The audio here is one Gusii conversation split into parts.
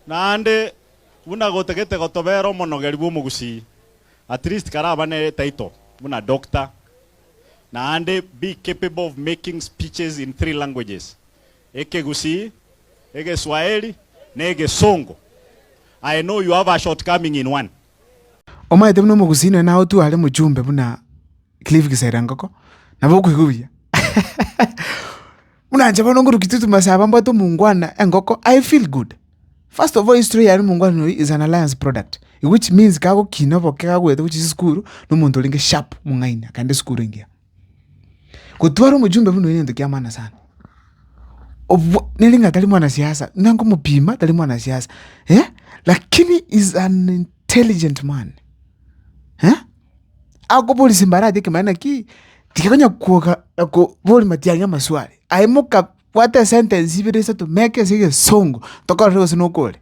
Naende buna gotagete gotobera omonogeri bw'omogusii, at least karaba ne title buna Doctor, naende be capable of making speeches in three languages, Ekegusii, Egeswaheli, na Egesongo. I know you have a shortcoming in one. Omaete buna omogusii nonya naye otware mochumbe buna Cliff Kiserengoko, nabo okoigwa buya. Buna inche bono ngorukia totuma ase aba mbwate omongwana engoko, I feel good. First of all history yane omongwana oyo is an alliance product, which means kagokina oboke kagwete gochia ase esukuru, na omonto orenge sharp mong'aini akaenda esukuru engiya. Gotwara omojumbe buna oyo nento kia maana sana. Obwa nere ng'a tari mwanasiasa, buna ngomopima tari mwanasiasa, eh, lakini is an intelligent man, eh. akoboria simbarache ekemanera ki, tiga konya kwoka koboria matiang'i amaswali. Aye moka bwate esentence ibere isato meka ase egesongo tokorore gose nokore.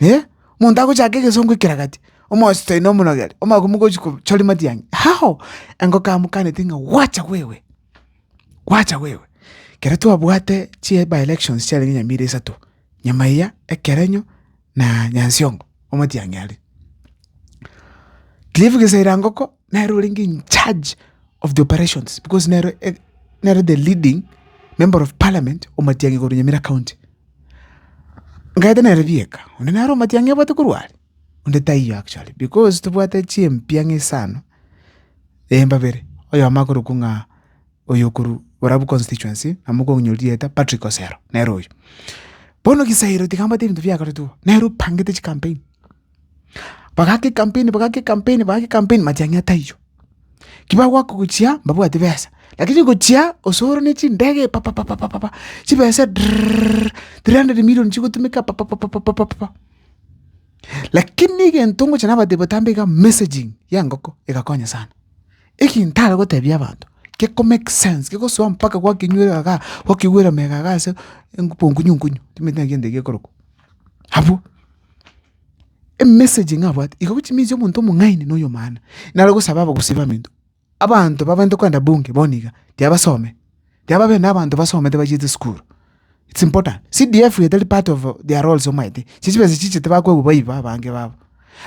Eh, monto agochaka egesongo ekeragati, omosi toino omonogere, omagoko mogochi kochori matiang'i, hao! Engoko amokaneti ng'a wacha wewe, wacha wewe. Kere twabwate chi by-elections chiarenge nyamira isato. Nyuma eria ekerenyo na Nyansiongo omotiang'i are. Cliff Geseriangoko nere orenge in charge of the operations because nere eh, nere the leading member of parliament omotiang'i korwa Nyamira county. Ngaete nere bieka, onde nare omotiang'i obwate korwa are, onde taiyo actually because tobwate chimpia ng'isano, eh, mbabere, oyomo akorokwa ng'a. oyo okorwa borabu constituency na mokong'inyoria rieta Patrick Osero nere oyo. Bono Gisairo tigambate ebinto biagaretwe igo, nere opangete chicampaign. Bagake ecampaign bagake ecampaign bagake ecampaign matiang'i ataiyo. Ki bagoaka gochia mbabwati besa, lakini gochia Osoro ne chindege pa pa pa pa pa chibesa drrrrrrr three hundred million chigotumeka pa pa pa pa pa pa. Lakini egento ngocha nabatebie botambe iga messaging ya engoko egakonya sana. Eki ntare gotebia abanto geko make sense gegosoa mpaka gwakenyuera iga gaa gwakegwera mega iga ase enkupo nkunyu nkunyu timanyeti naki egento eke gekorokwa. Abwo, emessage ng'a abwate iga gochia emensi ya omonto omong'aini na oyomwaana naro gosaba abagusii baminto abanto babwenerete kogenda bunge bono iga tibabasome. Yababe nabanto basomete bachiete sukuru. It's important. CDF etari part of their roles omanyete. Echi chibesa chichete bakoegwa baiba abange babo.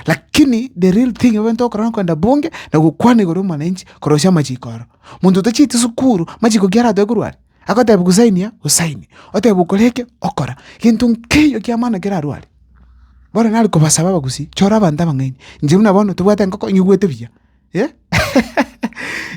Lakini the real thing ababete okorora nkoenda bunge na gokwana igoro y'omwananchi korosia amachiko aro. Monto otachieti sukuru machiko ki aratoe korwa are? Agotebia kusainia osaini, otebwa okora eke okora. Gento nkeiyo kia maana kerarwe are. Bono nare kobasaba abagusi chora abanto abang'aini. Inche buna bono tobwate engoko nyigwete buya.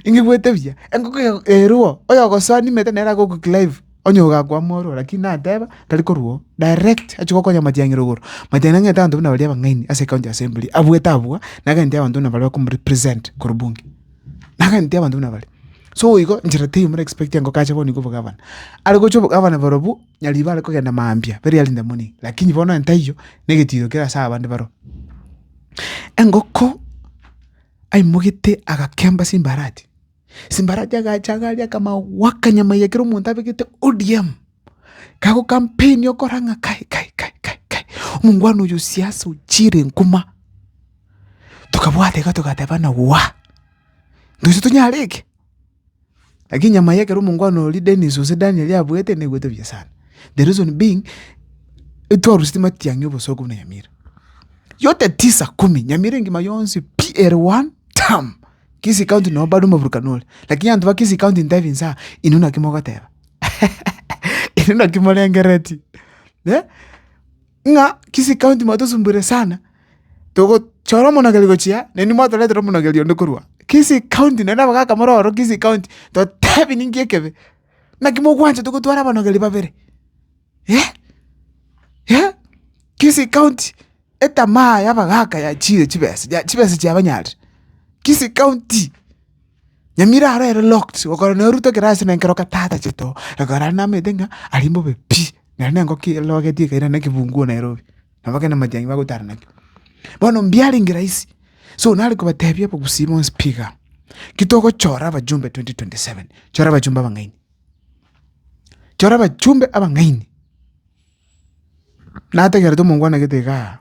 Ingigwete buya, engoko eye erwo oyogosoa nimete nere agokoclive onye iga akwama ororo lakini nateba tari korwa oo direct achia gokonya matiang'i rogoro, matiang'i nang'ete abanto buna baria abang'aini ase ecounty assembly abwate abwo na agenti abanto buna baria bakomorepresent korwa bunge, na agenti abanto buna baria. So igo nchera teiyo more expectinga engoko ache bono iga obogavana, are gochia obogavana borobwo nyaribare kogenda mambia very early in the morning lakini bono entaiyo na egetiro kere ase abande baroo. Engoko aimogete agakemba simbarati, simbarati agacha agaria akamagwa akanyama eria ekero omonto abegete ODM, kagokampenia okora ng'a kai kai kai kai kai omongwana oyo siasa ochiire nkuma, tokabwata iga togateba ng'a waa, ntoise tonyare eke. Lakini nyama ya ekero omongwana oria Dennis gose Daniel yabuete nebuete buya sana, the reason being etwaruseti matiang'i oboso kobuna nyamira. Yote tisa kumi, nyamira engima yonsi pi ere one tam, Kisii county noo bado omoburukano ore. Lakini abanto ba Kisii county ntebie inse aa, inwe naki mogoteba inwe naki morengeretie. ng'a Kisii County mwatosumbuire sana, togochora omonogeri gochia naende inwe mwatoretera omonogeri onde korwa Kisii County naende abagaka more ororo Kisii County, totebi ninki ekebe? Naki mogwanchete gotwara abanogeri babere? Eh, eh, Kisii County etamaa y'abagaka yachiire chibesa, chibesa chiabanyarire, Kisii County. Nyamira aro ere locked gokora naye orutwe ekero ase nenkero oka tatachete oo ekero are namaete ng'a aria mbobe pi nere na engoko elogeti ekairana na ekebuguo Nairobi nabo ekero namatianyi bagotara nakio. Bono mbiarenge rahisi so nare kobatebia abagusii bonsi pi igaa ki togochora abajumbe twenty twenty seven chora abajumbe abang'aini chora abachumbe abang'aini nategerete omongwana gete igaa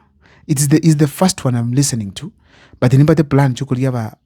it is the is the first one am listening to but nimbate plan chia okoria aba.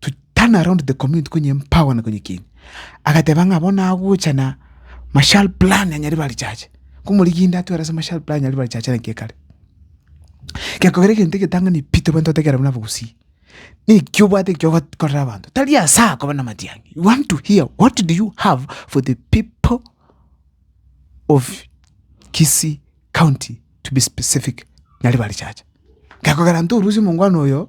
to turn around the community konye empower na konye kini agateba ng'a bono agocha na marshal plan ya nyaribarechache komoriginde atware ase marshal plan ya nyaribarechache naki ekare ekero kogera egento egetang'ani pi tobwenerete gotegerera buna abagusii naki obwate ekio ogokorera abanto tari asa koba namatiang'i you want to hear what do you have for the people of Kisii county to be specific nyaribarechache ekero kogera ntorusie omongwana oyo.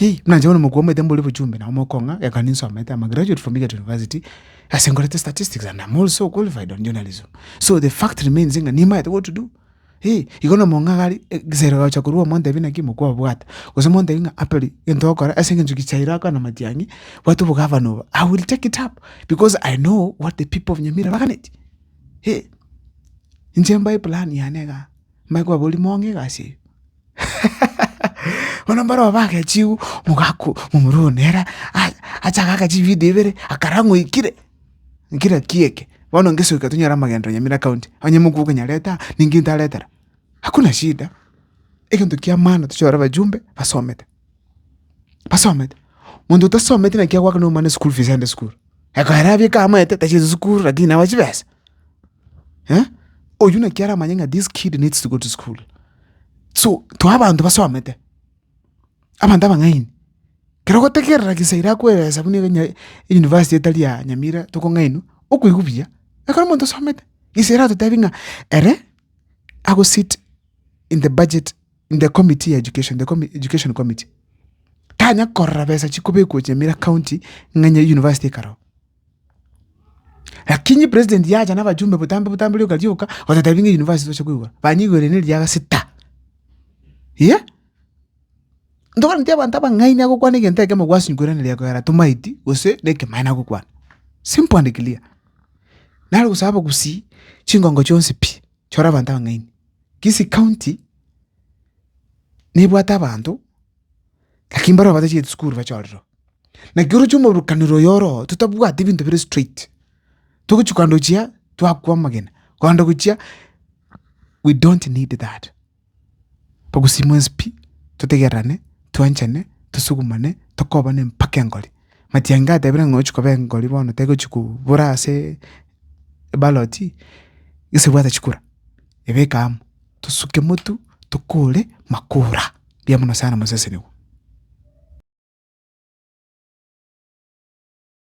Yei, buna inche bono omokua omoite mbori bochumbi nabo mokong'a, ekero ninsomete, am a graduate from egerton university, ase nkorete statistics and am also qualified on journalism, so the fact remains ng'a nimanyete what to do, eeh, igo na omong'aga are egiseri ogocha korwa omontebia naki mokua obwate, gose omontebi ng'a aperi gento ogokora ase eng'encho gichairo akorana na matiang'i, bwate obogavana obo, i will take it up because i know what the people of nyamira baganeti, eeh. Inche mbae plan yane igaa, mbae kobaboria mong'e egasi eye, Bono mbarabwo bagechigwa, omogaka omorua one ere achake agacha ebibida ebere akarora ng'a oikire, oikire ki eke? Bono ngesoka tonyore amagenderero Nyamira County, onye mokubua okonyarete aa, ninki ntaretera? Hakuna shida, egento ki'amana tochore abajumbe basomete. basomete, monto otasometi naki agoaka na omwana school fees aende school, ekero abeke aamate tachia school lakini nawe chibesa oywo naki aramanye ng'a this kid needs to go to school so too abanto basomete, abanto abang'aini kero ogotegerera gese ira akwe ebesa buna ebinyai euniversity etari ya nyamira tokong'ainwa okoigwa buya ekero omonto osomete gese ere agotebi ng'a ere agosit in the budget in the committee ya education, the commi- education committee. Tanya korora besa chikobekwa Nyamira County ng'a Nyeri University ekarao. Lakini president yacha na bajumbe butambe butambe rioka rioka otatabinga university toche koigwa. Banyigwere ne riaga sita. Yeah? Ndogora nti abanto abang'aini agokwana egento ekemo gwasingwere ne riago yara tomaiti gose nekemae nagokwana. Simple and clear. Naro gosaba gusii chingongo chionsi pi chora abanto abang'aini. Kisii county nebwate abanto lakini mbaroba batachete sukuru bache ororo. Naki oroche omoburukanero oyo oroo totabwati ebinto bire straight. Togochia kogenda gochia twakwa amagena kogenda gochia we don't need that. Togosima onspi totegererane twanchane tosugumane tokobane mpaka engori. Matiang'i gatebire ng'a ochi koba engori bono tegochi kobora ase. ebaloti gese ebwate chikura ebeke amo tosuke motu tokore makura mbuya mono sana mosesenigwe.